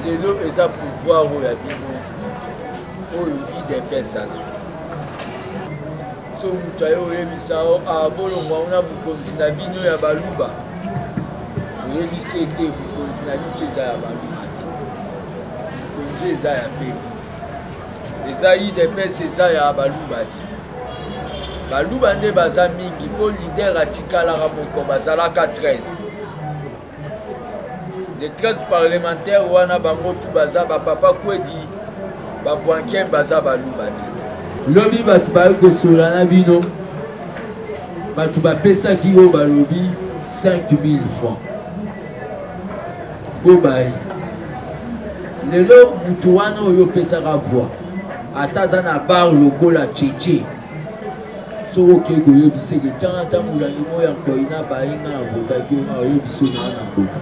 lelo eza pouvoir oyo ya bino oyo idps azwi so moto aye oyebisa o abolongwa ah, na bokonzi na bino ya baluba oyebisi ete bokonzi na biso eza ya baluba te bokonzi eza ya pepe eza idps eza ya baluba te baluba nde baza mingi mpo lider atikalaka moko bazalaka 13 les 13 parlementaires wana bango tu baza bapapa kwedi babwanken baza baluba te lobi bato bayoki kosola na bino bato bapesaki oyo balobi 5000 francs bobaye lelo moto wana oyo opesaka voi ata aza na bar lokola cheche soki okei koyebisa eke ntango ata molangi moko ya nkoi na baye nga na votaki yo nga oyebisa yo naa na mbota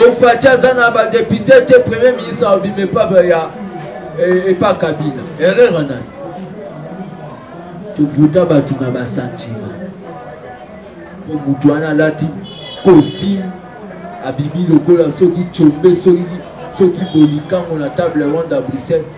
ofati aza na badepute te premier ministre abima epapa ya e, epa kabila erreur nani tovuta bato na basantima po moto wana alati costume abimi lokola soki combe soki bolikango na table ronde ya bruxelles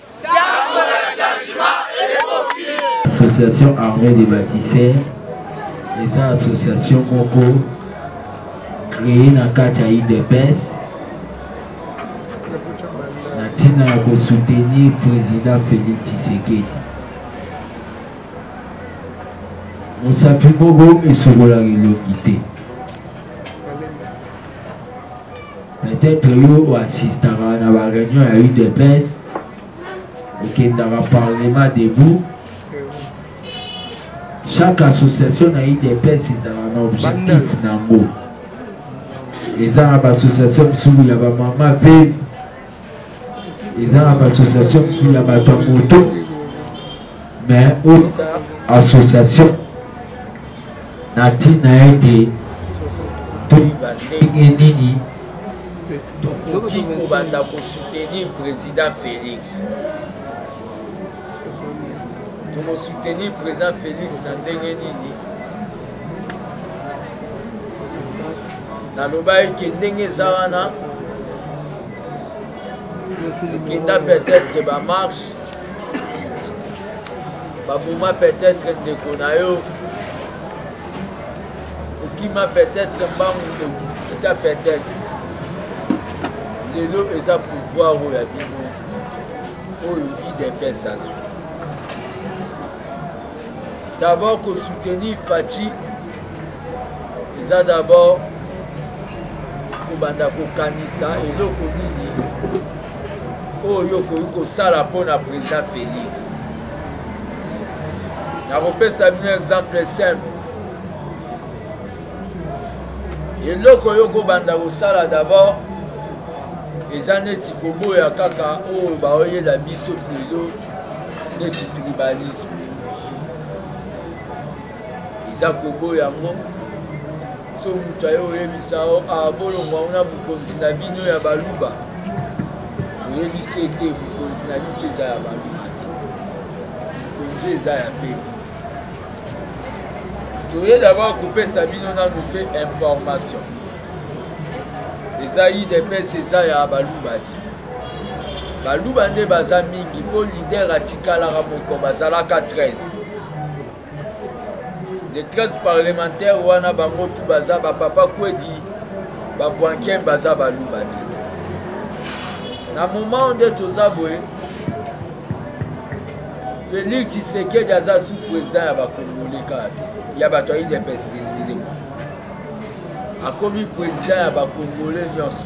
association armée des bâtisseurs eza association moko créé na kati ya udps na ntina ya kosoutenir président félix tshisekedi mosapi moko esokolaka elongi te peut-être yo oassistaka na ba réunion ya udps okendaka parlement debout chaque association na udps ezalaka na objectif na yango eza na baassociation mosusu ya bamama veve eza na baassociation ya bato ya moto mais oyo eza association na ntina ete toyeba ndenge nini tokoki kobanda kosoutenir président félix tokosoutenir président félix na ndenge nini nalobaki ke ndenge eza wana kinda peut-être ba marche baboma peut-être ndeko na yo okima peut-être mbangu odiskita peut-être lelo eza pouvoir oyo ya bino oyo idps azwi d'abord kosoutenir faci eza d'abord kobanda kokanisa eloko nini oyo okoki kosala mpo na président félix nakopesa bino exemple simple eloko oyo okobanda kosala d'abord eza neti koboya kaka oyo oh, baoyela biso lelo neti tribalisme eza koboya yango so moto aye oyebisa o ah, bolongwa ngo na bokonzi na bino ya baluba oyebisi ete bokonzi na biso eza ya baluba te bokonzi eza ya pepe toye dabord kopesa bino nanu mpe information eza idps eza ya baluba te baluba nde baza mingi mpo lider atikalaka moko bazalaka 13 les 13 parlementaires wana bango tu baza bapapa kwedi babwanken baza baluba te na moment nde toza boye félix tshisekedi aza sous président ya bakongole kaka te ya bato ya udps te excuse moi akomi président ya bakongole nyonso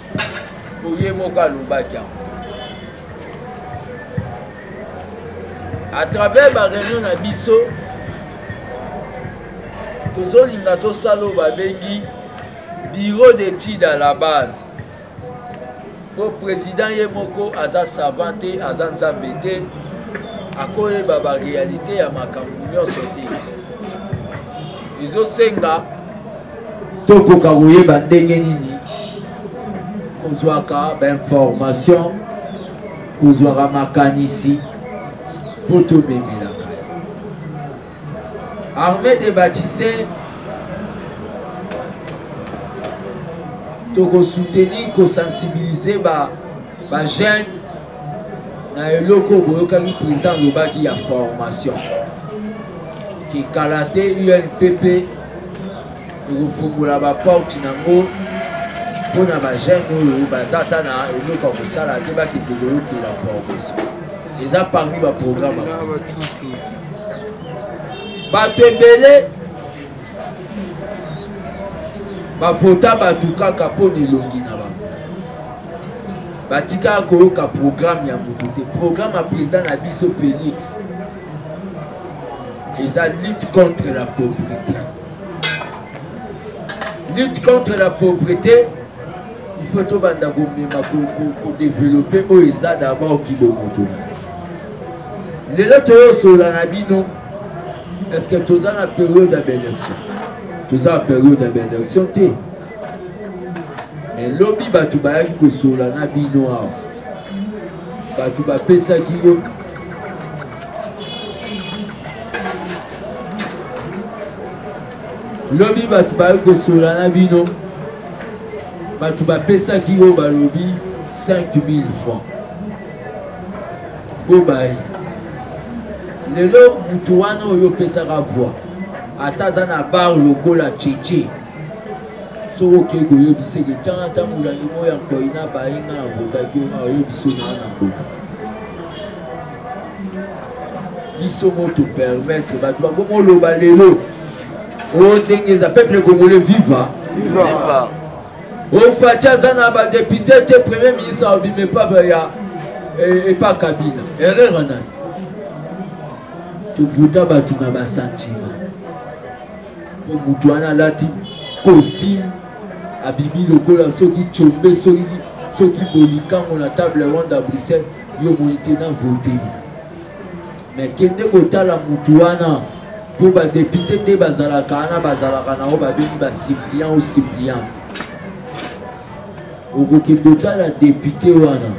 oye moko alobaki yango à travers bareunion na biso tozolinga tosala oyo babengi bureau d'étude à la base mpo président ye moko aza savant te aza nzambe te akoyeba barealité ya makambo nyonso te ezosenga tokoka koyeba ndenge nini kozwaka bainformation kozwaka makanisi mpo tomemelaka arme de batise tokosoutenir kosensibilize bajeune ba na eloko oyo boyokaki président alobaki ya formation ke kala te unpp ekofungola baporte nango mpo na bajeune oyo baza ata na eloko ya kosala te bakende koyokela formation eza parmi baprogramme bato ebele bavota bato kaka mpo na elongi na batika koyoka programme ya moto te programme ya président na biso félix eza lutte contre la pauvreté lutte contre la pauvreté il faut tobanda komema kodeveloppe oyo eza d'abord kibomoto lelo toyosola na bino est ce que toza na période ya baélection toza na période ya baélection te Eh, lobi bato bayaki kosola na bino awa bato bapesaki yo lobi bato bayaki kosola na bino bato bapesaki yo balobi 5000 francs bobaye lelo moto wana oyo opesaka voi ata aza na bar lokola cheche soki okei koyebisa eke ntango ata molangi moko ya nkoi na baye nga na votaki yo nga oyebiso naa na mboka biso mo topermettre bato bakomi oloba lelo o oh, ndenge eza peuple congolais viva ofati oh, aza na badepute te premier ministre abima epapa ya e, epa kabila erreur nani tovuta bato na basantima po motu wana alati costume abimi lokola soki combe soki soki bolikango na table ronde ya bruxelles yo omoni te na vote me kende kotala motu wana mpo badepute nde bazalaka wana bazalaka na oyo babengi basipliant o sipliant okokende otala depute wana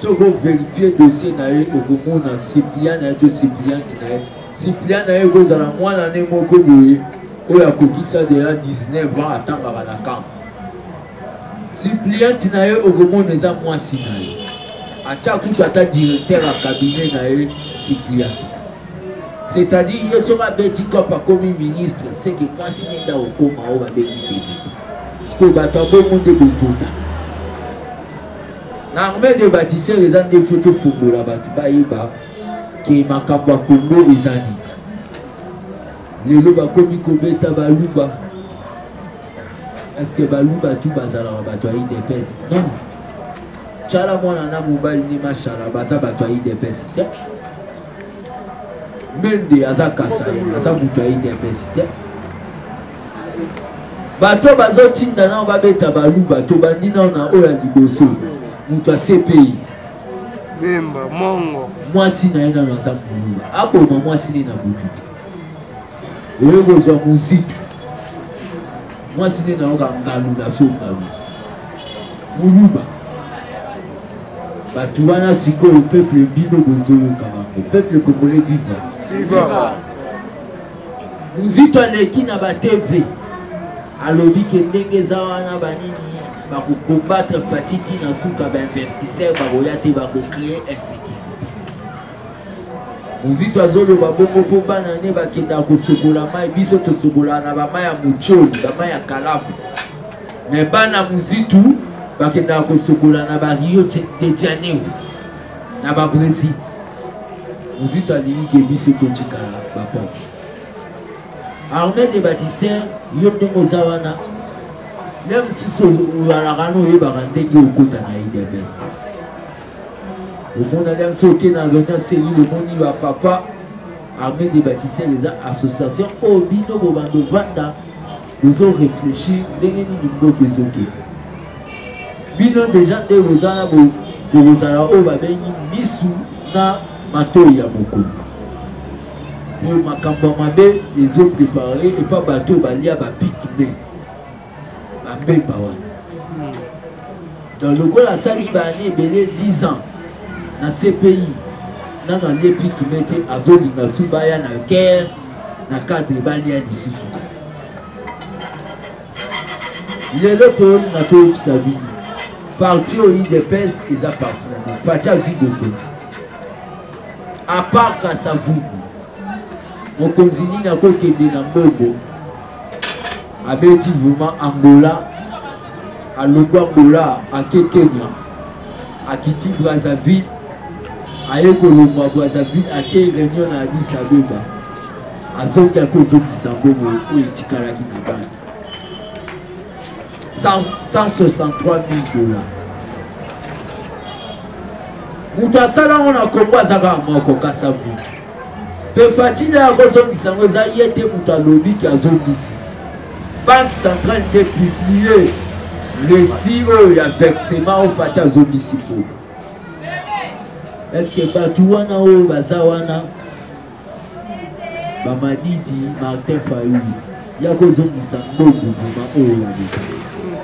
soki overifie dossier na ye okomona sipliant na ye to sipliante na ye Cyprien na ye ekozala mwana ne moko boye oyo akokisa deja 19 ans atangaka na camp Cyprien ntina ye okomona eza mwasi na ye atya kutu ata directeur ya cabinet na ye Cyprien c'est-à-dire ye soki abeti cop akomi ministre seke mwasi ne nde akokoma oyo babengi debite sikoyo bato ya bongo nde bovota na armée de bâtisseur eza nde foto fongola bato bayeba ke makambo ya kongo eza nini lelo bakomi kobeta baluba parceke baluba tu bazalaka bato ya idps non cala mwana na mobali nde mashala baza bato ya idps te mende aza kasai aza moto ya idps te bato bazotinda nao babeta baluba tobandi nao na oyo ya liboso moto ya cpi bemba mongo mwasi na ye nano aza mbulula aboma mwasi ne na butu te oyo kozwa mozitu mwasi ne nayoka ngalula so ngalula moluba bato wana sikoyo peuple bino bozoyoka bango peuple congolais viva mozito aleki na bateve alobi ke ndenge eza wana banini bakokombatre fatiti na suka bainvestisseur bakoya te bakocree insécurité mozito azoloba bongo mpo bana ne bakendaka kosokola mai biso tosokolaka na bamai ya mocoli bamai ya kalamu me bana mozitu bakendaka kosokola na bario de janeiro na babrésil mozito alingi ke biso totikala bapoke Armée des bâtisseurs, yo ndenge oza wana ya mosusu oyalaka na oyebaka ndenge okota na idps omona ya mosusu oke na avenir selile omoni bapapa armée des bâtisseurs eza association oyo bino bobanda ovanda bozo réfléchir ndenge nini mboka ezokende bino deja nde boza na bokozala oyo babengi misu na matoi ya mokonzi po makambo ya mabe ezo prepare epa bato oyo balia bapiki nde bambemba wana donc lokola asali baane ebele 10 ans na cpi nano alie piki nde te azolinga su baya na guerre na cadre balia lisusu lelo toyolinga toyebisa bino parti oyo idps eza parti na parti azwi bokonzi apart kasavubu mokonzi nini akokende na mbongo abeti vraimen angola alongo angola ake kenya akiti brazzaville aye kolongwa brazzaville ake réunion na adis abeba azongi akozongisa mbongo oyo etikalaki na bana 163000 dollars moto asala yango na kongo aza kaka moko kasavu mpe fatine ya kozongisa yango eza ye te moto alobi ke azongisi banque centrale nde publie lesi oyo ya versement oyo fati azongisi po estce bato wana oyo baza wana bamadidi martin fayulu ya kozongisa mbongo vuma oyo ya leta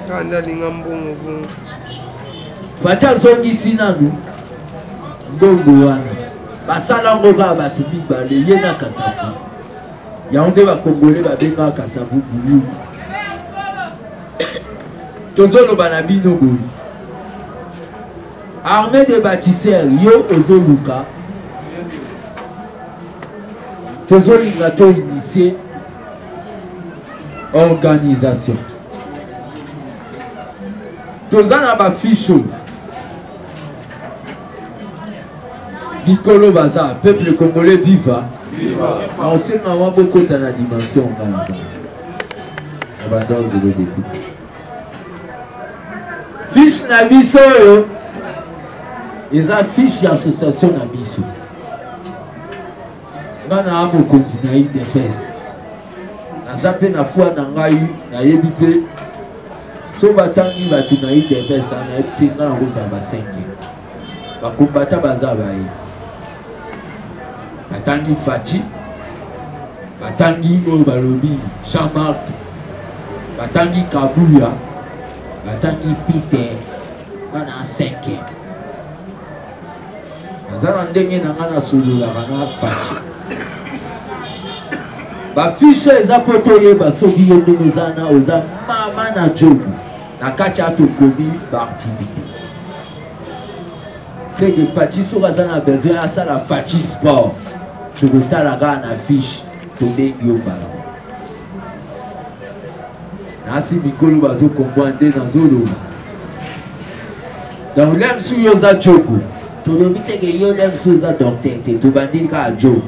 kanda alinga mbongo bongo fati azongisi nanu mbongo wana basala yango kaka bato mibale ye na kasavu yango nde bakongole babengaka kasavu buyuma tozoloba na bino boye Armée des bâtisseurs, yo ozoluka tozolinga to initie organisation toza na bafiche oyo likolo baza peuple congolais viva na osenga mwa bokota na dimension ngai na badanse de depute fiche na biso oyo eza fiche ya association na biso nga na mokonzi na udps naza mpe na poi na ngai nayebi mpe so batangi bato na udps anayebi te nga nakozala basengi bakombata baza baye batangi faci batangi oyo balobi jean marc batangi kabuya batangi peter bana cinque naza na ndenge na ngai nasololaka na faci bafishe eza mpo toyeba soki yo ndenge oza na oza mama na jobu na kati ya tokomi baaktivité c'est que Fatih soki aza na besoin asala Fatih sport tokotala kaka na fiche tobengi yo mbala nasi mikolo bazokombwa nde nazoloba donc lem su yo oza jogo tolobi teke yo lem su oza docteur te tobandi kaka jogo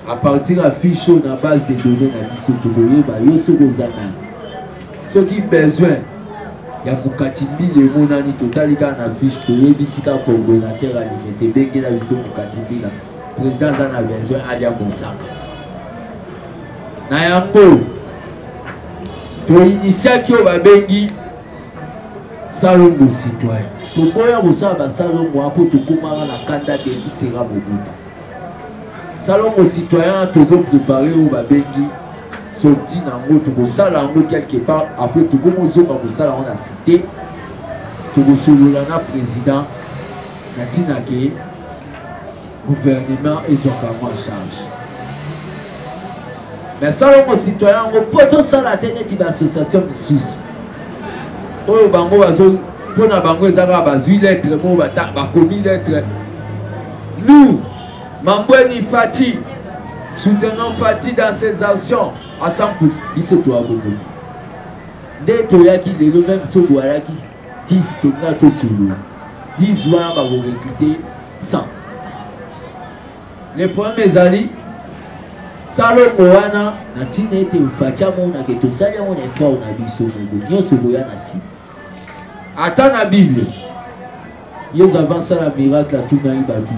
à partir ya fiche oyo na base de données na biso tokoyeba yo soki oza nani soki besoin ya mokatimbili emonani totali kaka na fiche toyebisi kaka coordonnateur alingi te ebengela biso mokatimbila président aza na besoin alia mosaka na yango toinitiaki oyo babengi salongo citoyen toboya kosala basalongo apo tokomaka na kanda debisera mobutu salongo citoyen tozo prépare oyo babengi sorti na yango tokosala yango quelque part après tokomozonga kosala yango na cité tokosolola na président na ntina ke gouvernement ezwaka yango en charge mais salongo citoyen yango mpo tosala te neti baassociation misusu oyo bango bazo mpo na bango eza kaka bazwi lettre moko bakomi lettre Lou, Mambweni Fati, soutenons Fati dans ses actions à 100%. Biso to abongo. Nde toyaki lelo même so boyaki 10 tolinga tosolola 10 wana bakorekrute 100 le problème ezali salongo wana na ntina ete fati amonake tosali yango na effort na biso moko nyonso koya na nsima ata na bible yesu avant asala miracle atunaki bato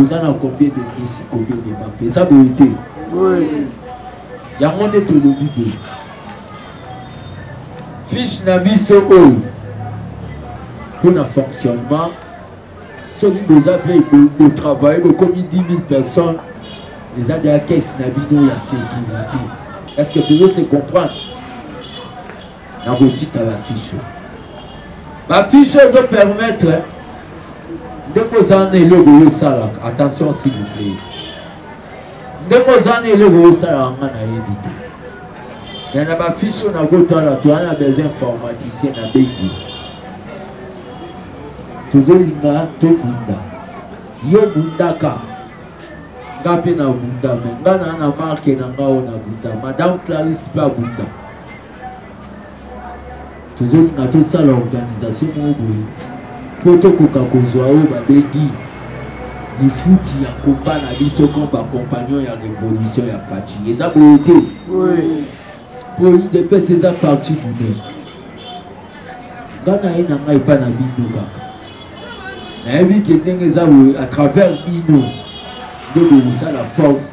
oza na combien de misi combien de mape eza boye te yango nde tolobi boye fiche na biso oyo mpo na fonctionnement soki boza mpe botravaille bokomi 10 000 personnes eza deya kese na bino ya sécurité est ce que tozo se comprendre na kotika la fiche la fiche ezo permettre ndeko oza na eloko oyo esalaka attention s'il vous plaît ndeko oza na eloko oyo esalaka nga nayebi te me na bafiche oyo nakotala toza na besoin informaticien na bengi tozolinga tobunda yo bundaka nga mpe na bunda me nga naa na marke na nga oyo na bunda madame clarisse mpe abunda tozolinga tosala organisation moko boye mpo tokoka kozwa oyo babengi lifuti ya komba na biso comme bacompagnon ya révolution ya faci eza boye te mpo idps eza parti bune nga na ye na ngai epa na bino kaka nayebi ke ndenge eza boye à travers bino nde bokosala force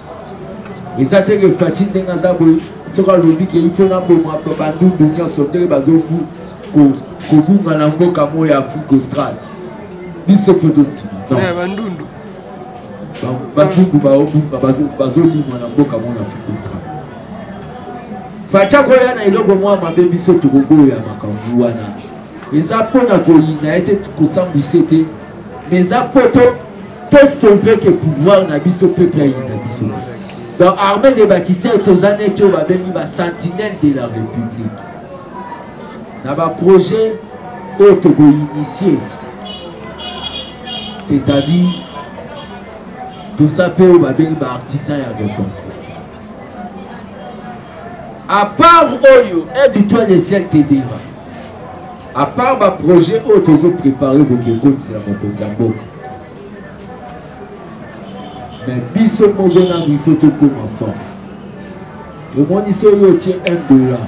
eza te ke faci ndenge aza boye soki alobi ke ifo naboma bandundu nyonso ndenge bazobu kobunga na mboka moko ya afrique australe biso mpe tokima bandundu bandundu baobunga bazolimwa na mboka moko ya afrique australe faci akoya na eloko mwa mabe biso tokoboya makambo wana eza mpo na koyina ye te kosambwisa te mais eza poto to sauve ke pouvoir na biso peuple ayinda biso donc armée de baptistère toza neti oyo babengi basentinelle de la république na baprojet oyo tokoinitie c'est-à-dire toza mpe oyo babengi baartisan ya reconstruction à part oyo aide toi le ciel te dera à part ba projet oyo tozo prépare boki ekotisa mokonzi ya mboka mais biso moko nanu il faut tokoma force omoni so oyo otie 1 dollar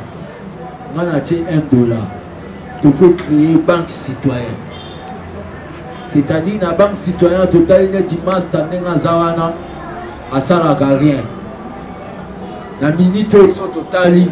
nga natie 1 dollar toko créer banque citoyen c'est-à-dire na banque citoyen totali neti masta ndenge aza wana asalaka rien na minute oyo so totali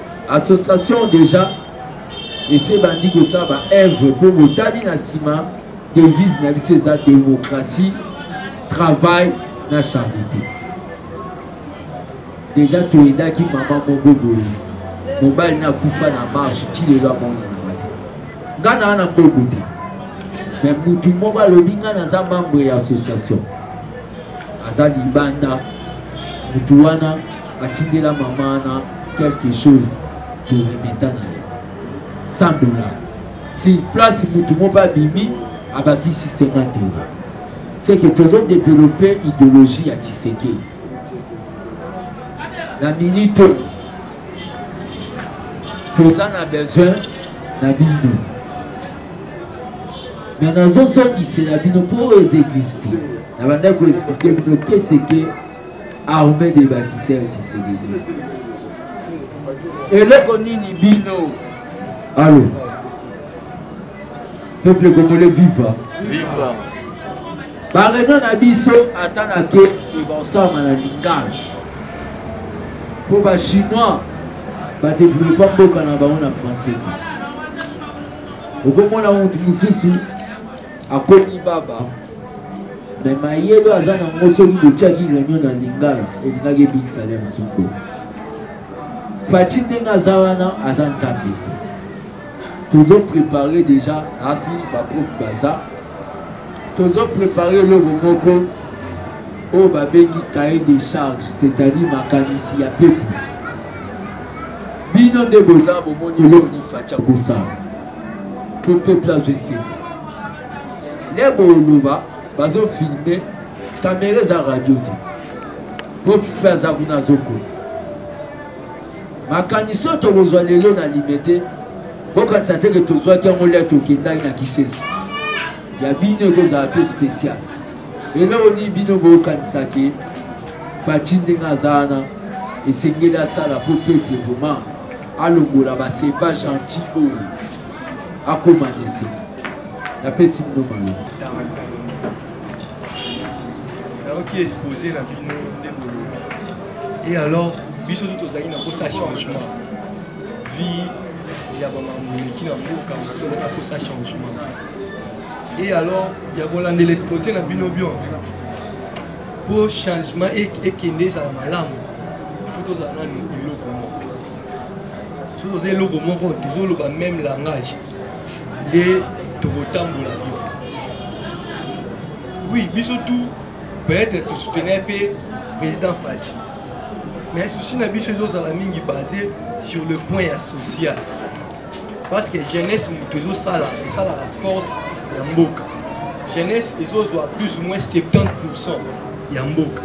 Association deja esi ebandi kosala ba œuvre mpo botali na nsima devise na biso eza démocratie travail na charité deja toyedaki mama moko boye mobali na akufa na marche ti lelo amonananga te ngai naa na mboku te me motu moko alobi ngai naza membre ya association aza libanda motu wana atindela mama na quelque chose toremeta na ye 100 dollar si place motu moko abimi abakisi 50 euro c'est que tozo développer idéologie ya tshisekedi na minute oyo toza na besoin na bino me nazozongisela bino mpo oyo eza existe na bandaki koexplike bino keseke armée des bâtisseurs tshisekedi eloko nini bino alo peuple congolais viva viva bareunion na biso ata na ke ebosama na lingala mpo bachinois badevelopa mboka na bango na français te okomona motu mosusu akomi baba me mayele aza nango soki botyaki réunion na lingala elingaki ebikisa le msuko fati ndenge aza wana aza nzambe tozo prépare déjà asi baprof baza tozo prépare eloko moko oyo babengi cahier de charge c'est-à-dire makanisi ya pepo bino nde boza bomoni eloko nifati akosala mpo peuple azwa esengo nde boloba bazofilme kamera eza radio te mpo mpe aza kuna azokola makanisi oyo tokozwa lelo na lime te bokanisa teke tozwaki yango lia tokendaki na kisenso ya bino ekozala mpe spécial eloko nini bino bokanisaki faci ndenge aza wana esengeli asala mpo peuple vraiment alongola ba c'est pas gentil oyo akoma dese napesi bino maloba nayoki expose na bino nde bolobi e alors biso tu tozali na mposa ya changement vie ya bamambo eleki na mboka tozali na mposa ya changement e alors ya kolandela expose na bino bion mpo changement ekende ezala malamu ifo tozala nanu eloko moko soki toza eloko moko tozoloba meme langage nde tokotambola yo oui biso tout peut-être tosoutenir mpe président fati mais souci na biso ezozala mingi basé sur le point ya social parce que jeunesse moto ezosala esalaka force ya mboka jeunesse ezozwa plus ou moins 70 pourcent ya mboka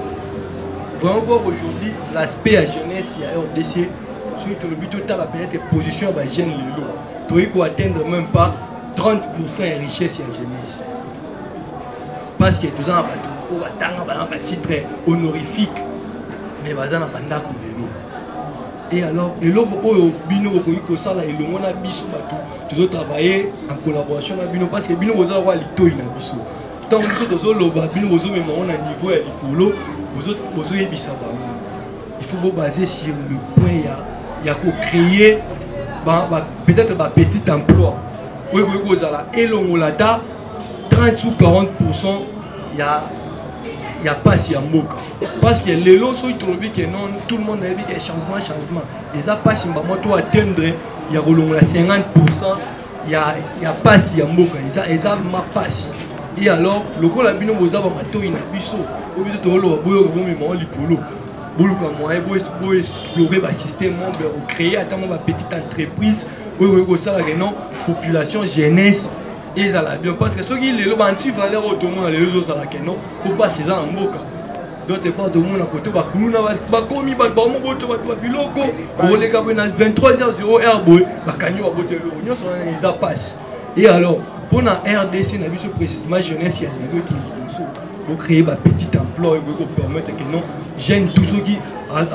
vraiment voir aujourd'hui l'aspect ya jeunesse ya rdc soki tolobi totala peut-être position ya bajeune lelo toyei koatteindre même pas 30 pourcent ya richesse ya jeunesse parce que toza na bato oyo batanga bana batitre honorifique mais baza na bandako lelo Et alors, eloko oyo bino bokoki kosala elongo na biso bato tozo travailler en collaboration na bino parce que bino boza lokola litoi na biso ntango biso tozoloba bino bozomema yango na niveau ya likolo bozoyebisa bango il faut bobase sur le point ya, ya kocreye ba, ba, peut-être bapetit emploi oyo ekoki kozala elongola ata 30 ou 40 pourcent ya, ya mpasi ya mboka parce que lelo soki tolobi ke non tout le monde ayebi ke changement changement eza mpasi mbamo to atteindre ya kolongola 50 pourcent ya, ya mpasi ya mboka eza, eza mapasi e alors lokola bino boza bamatoi na biso oyo biso tokoloba boyoka bomemao likolo boluka moyen boexplore basystème mo bocree ata mwa bapetit entreprise oyo ekoki kosalaka non population jeunesse ezala bien parce que soki lelo ba anti valeur oyo tomona lelo ezozala ke non po mpasi eza na mboka d'autre part tomona kote bakuluna bakomi bato bango boto bato babiloko okoleka boye na 23h0 boye bakangi baboto eloko nyonso wana eza mpasi e alors mpo na rdc na biso précisement jeunesse ya lelo ekei liboso bocreye bapetit emploi ekoki kopermettre ke non jeune tout soki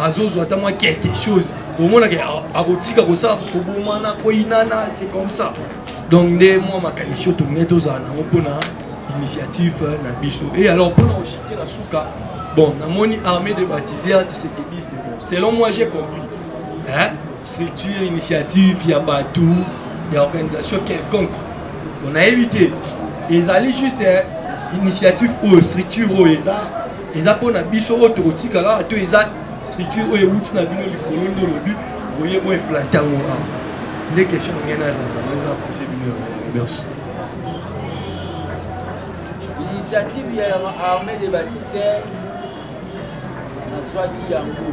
azozwa ata mwa quelque chose omonaka akotika kosala kobomana koyinana c'est comme ça donc nde mwa makanisi oyo tolingai tozala nango mpona initiative na biso e alors mpona koshite na suka bon namoni armée de baptisé ya tisekediste bon selon moi j'ai compris hein? structure initiative ya bato ya organisation quelconque bon nayebi te ezali juste initiative oyo structure oyo eza eza mpo na biso oyo tokotika kaka to eza structure oyo ewuti na bino likolo nde olobi boye oyo eplante yango awa nde question na ngai nazalaa pose bino yango merci initiative ya armée de bâtisseur nazwaki yango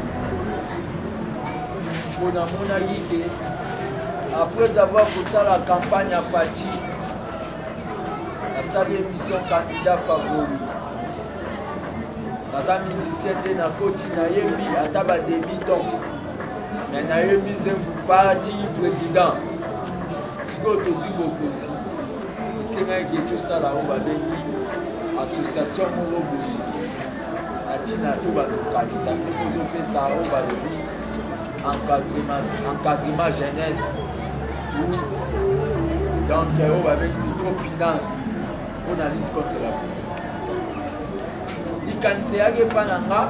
mpo namonaki te après avoir kosala campagne ya fati asali émission candidat favori naza musicien te nakoti nayembi ata ba debutant me nayembi nzembu fati président sikoyo tozwi bokonzi esengaki ke tosala oyo babengi association moko boye na ntina to balokanisa mpe kozopesa oyo balobi encadrement jeunesse donc oyo babengi microfinance mpo na lutte contre la likanisi eyaki epa na nga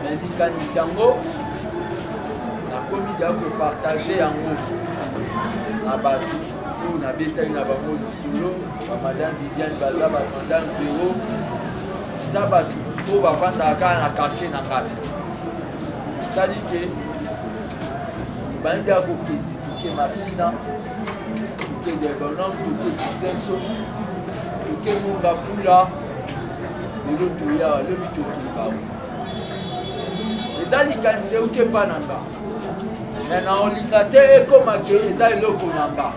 na likanisi yango nakomi deya kopartage yango na bato oyo nabetaki na bango lisolo bamadame viviane baza bamadame vero eza bato oyo bafandaka kaka na quartier na ngai esali ke bandi ya kokende toke masina Toke Diagonal, toke Kisenso, toke Munga Fula, lelo toya lobi tokeba. Eza likanisi euti epa na nga me naolinga te ekoma ke eza eloko na nga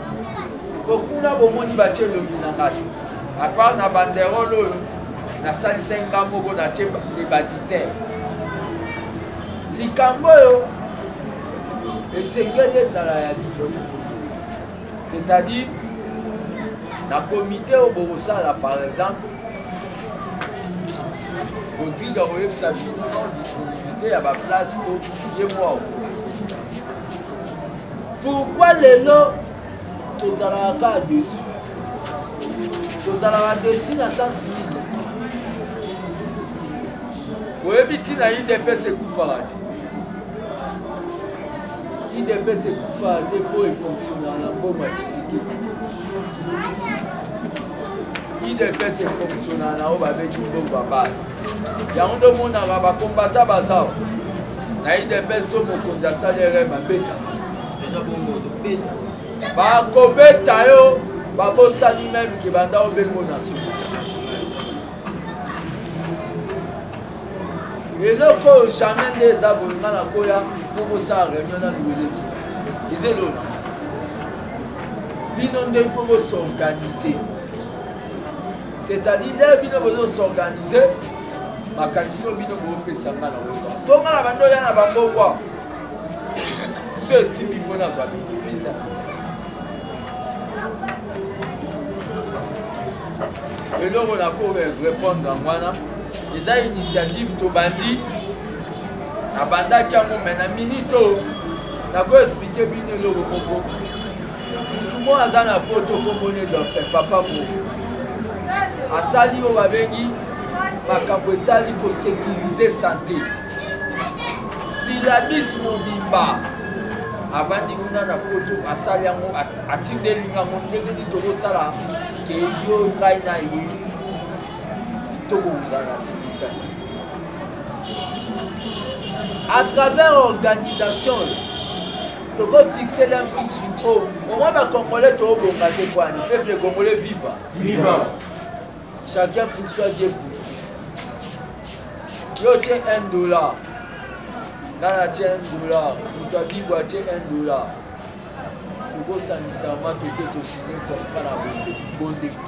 po kuna bomoni batie elongi na nga te apart na banderole oyo nasalisaki nga moko natie le batiser likambo oyo esengeli ezala ya bino c'est-à-dire na komite oyo bokosala par exemple rodrigue akoyebisa bino non disponibilité ya baplace po ye mwa okoka pourkui lelo tozalaka kaka desu tozalaka desu na sens nini oyebi ntina idps ekufaka te idps ekufa te mpo efonctionnaka na mboma tisekedi idps efonctionnaka na oyo babeti mbongo ya base yango nde omonaka bakombata baza na idps so mokonzi asali rm abeta bakobeta yo babosani meme ke banda obengo national eloko oyo jamais nde eza boye nga na koya po bosala réunion na luweleki eza elona bino nde ifo bosorganize c'est-à-dire leo bino bozosorganize makanisi oyo bino boopesa nga na oyo so nga na bando oya na bambongwa so esimbi fo nazwa benefisa eloko nakoki répondre yango wana eza initiative tobandi nabandaki yango me na minute oyo nakoexplike bino eloko moko motu moko aza na poto kombona edofe papa mo asali oyo babengi makambo etali kosekirize sante silabis mobimba avandi kuna na poto asali yango atindeli yango ndenge nini tokosala keyo ngai na ye à travers organisation tokofixe la msusu o omwa bacongolais toobonga te kwani peuple congolais viva viva chacun pour soi dieu pour yo tie 1 dollar ngai natie 1 dollar moto abibo atie 1 dollar tokosangisa ma toke tosigne contrat na bonde bondeko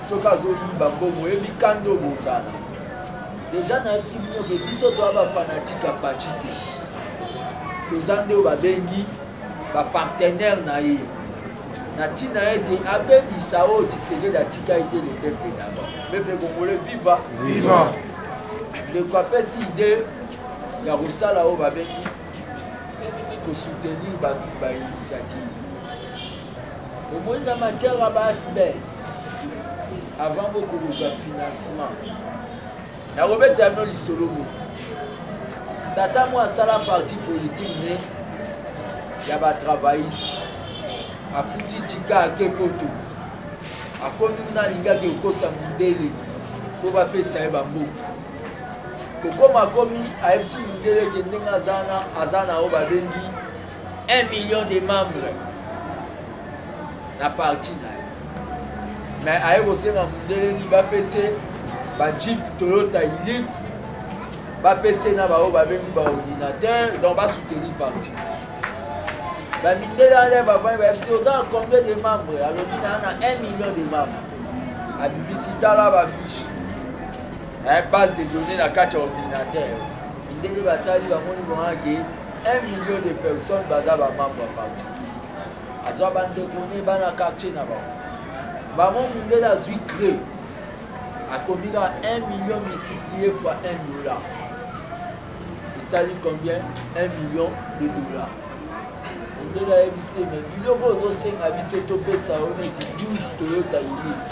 soki azoyiba mbongo oyebi kanda oyo bozala deja nayebisi bino ke biso toya bafanatike ya paci te toza nde oyo babengi bapartenere na ye na ntina ete abebisa oyo tisekeli atika ete le peuple d'abord peuple congolais viva viva ndeko apesi ide ya kosala oyo babengi kosoutenir bato ba initiative omoni na matière ya baasbel avant bokozwa financement nakobetela bino lisolo mo tata mwa asala parti politique ne ya batravailliste afuti tika ake poto akomi kuna alingaki kokosa mondele mpo bapesa ye bamboka kokoma akomi ayebisi mondele ke ndenge aza na oyo babengi 1 million de membres na parti na ye mais aye kosenga mondeleni bapese bajeep toyota ilix bapese na baoyo babengi baordinateur donc basoutenir parti bamindele ale bavandi bayebisi oza na combien de membres alobi naa na 1 million de membres abibisi tala bafiche base de données na kati ya ordinateur mindele batali bamoni bonake 1 million de personnes baza bamambo ya parti azwa bandeko ne bana quartier na bango bango mundele azwi cre akomi na 1 million multiplié fois 1 dollar esali combien 1 million de dollar mundele ayebisi me biloko ozosenga biso topesa yo neti 12 toyota unite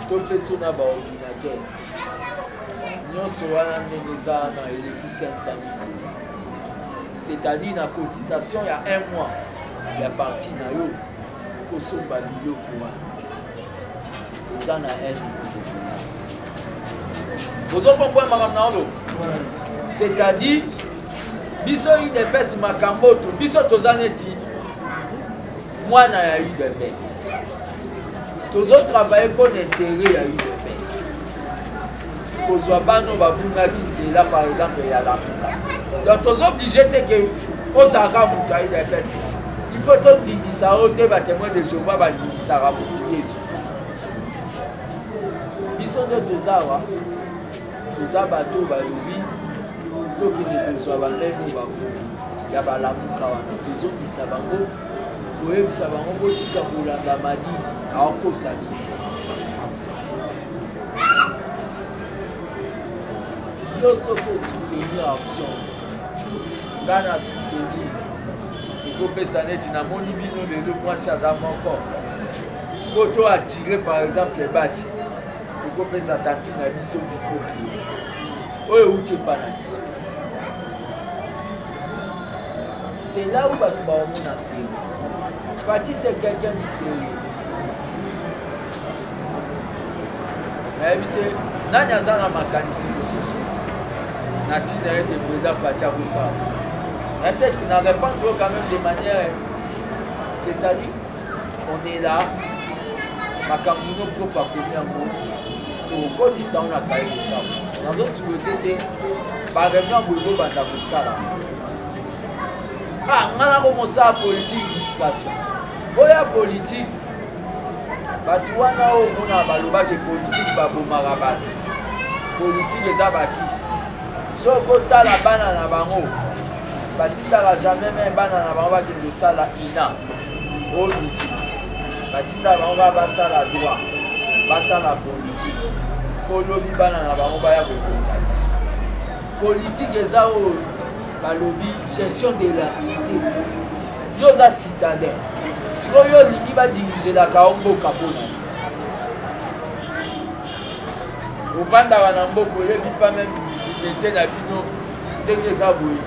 topeso na baordinateur nyonso wana ndenge eza na eleki 500 dola c'est-à-dire na cotisation ya un mois ya parti na yo okosomba biloko wana oza na un ozokomboya makambo na olo c'est-à-dire biso idps makambo to biso toza neti mwana ya udps tozo travaille mpo na intere ya udps kozwa bano babungaki nzela par exemple ya lamuka donc tozo oblige te ke ozalaka moto ya udps il faut tondimisa o nde batemoin de jehova bandimisaka moto yesu biso nde toza awa toza bato oyo balobi tokende kozwa bamemo bango ya balamuka wana tozongisa bango koyebisa bango botika kolanda madi aokosa bino yo soki osoutenir action nga na soutenir ekopesa neti namoni bino lelo mwasi aza moko po to attire par exemple basi ekopesa tati na biso bikoki oyo euti epa na biso C'est là où bato baomona sérieux. Fatih c'est quelqu'un de sérieux. nayebi te nani aza na makanisi mosusu na ntina ete breza fati akosala na peut-être na répondre yo quand même de manière c'est-à-dire on est là makambo ino prof akomi yango tokotisa yango na kaye de chambre nazosouete te bareunion boye bobanda kosala ah nga na komosala politique distraction oya politique bato wana oyo omona balobaki politike babomaka bato politike eza bakisi soki otala bana na bango batindaka jamais me bana na bango bakende kosala ina oyo misiki batindaka bango kaka basala droit basala politike kolobi bana na bango baya kokonza biso politike eza oyo balobi gestion de la cité yo oza citadin sikoyo yo olingi badirigelaka yo mboka mpona ofandaka na mboka oyebi pa meme mete na bino ndenge eza boye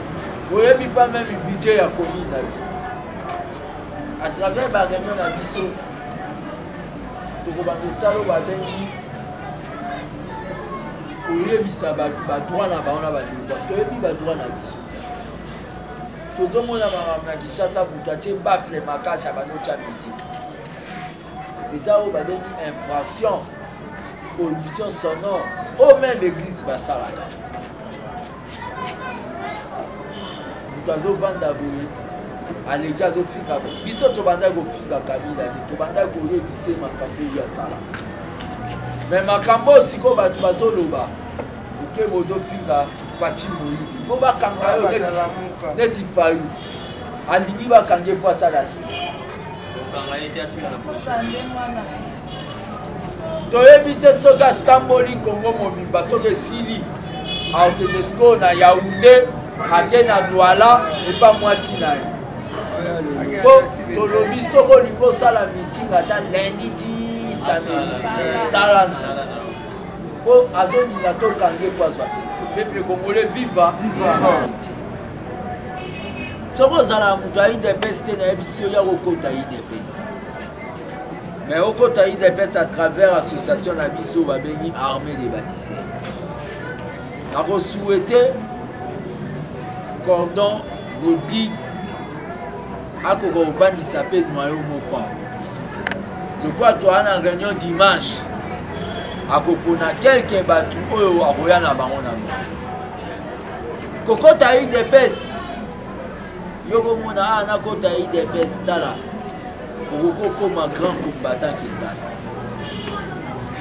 oyebi pa meme budget ya komi na bino à travers bareunion na biso tokobanda osala oyo babengi koyebisa bato badroit na bango na balingwa toyebi badroit na biso te tozomona makambo na kinshasa moto atie bafle makasi abandi otya miziki eza oyo babengi infraction pollution sonore o meme église basalaka moto azovanda boye aleki azofinga biso tobandaki kofinga kabila te tobandaki koyebise makambo oyo asala me makambo oyo sikoyo bato bazoloba oke bozofinga faci moyibi mpo bakanga yo neti fayu alingi bakangi ye mpo asala sisi toyebi te soki astamboli kongo mobimba soki esili akende sikoyo na yaunde ake na douala epa mwasi na ye po tolobi soki olingi osala meeting ata lundi ti samedi sala na po azolinga tokange po azwa succès peuple congolais viva soki ozala moto ya idps te nayebisi yo ya kokota idps mais okota udps à travers association na biso babengi armée des bâtisseurs nakosouhaite cordon rodrigue akoka kobandisa mpe noyo moko lokola toya na réunion dimanche akopona kelke bato oyo akoya na bango na bango kokota udps yo komona a ah, nakota udps tala okoki okoma grand combattant ke ngai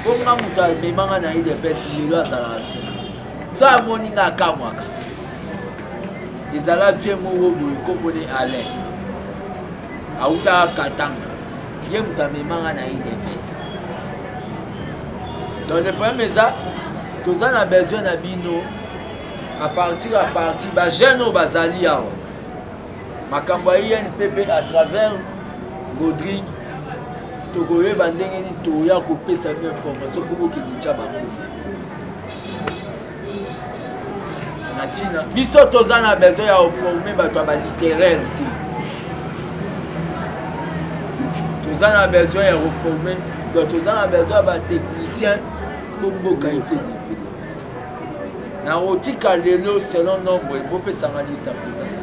mpo nga moto amemanga na udps lelo azalaka susi so amoni nga akamwaka ezala vie moko boye komone alain autaka katanga ye moto amemanga na udps donc le problème eza toza na besoin na bino à partir à partir bajeune oyo bazali awa makambo ya inpp à travers rodrigue tokoyeba ndenge nini toya kopesa bino information mpo bokende tya bango na ntina biso toza na besoin ya oforme bato ya balittéraire te toza na besoin ya koforme donc toza na besoin ya batechnicien mpo mboka efe nakotika lelo selon nombre bopesanga liste ya présence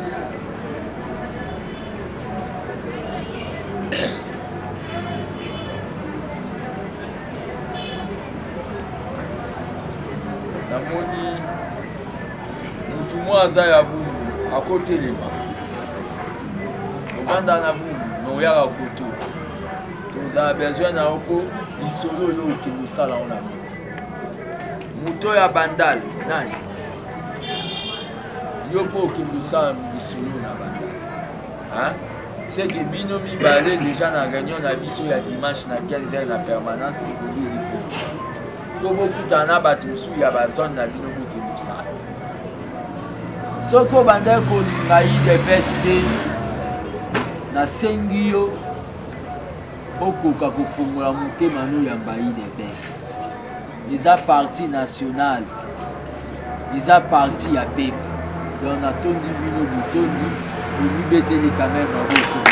namoni motu mwa aza ya bungu akotelema ovanda na bungu noyaka kutu tozala besoin na yo mpo lisolo oyo okende osala ona moto ya bandal nani yo mpo okende osala lisolo na bandal seke bino mibale deja na réunion na biso ya dimanche na 15 heure na permanence ekobi ifo mpo bokutana na bato mosusu ya bazone na bino bokende osala soki obandaki kolinga idps te nasengi yo okoka kofongola motema no yamba idps eza parti national eza parti ya pepe donc natondi bino botondi bomibeteli quand même aboko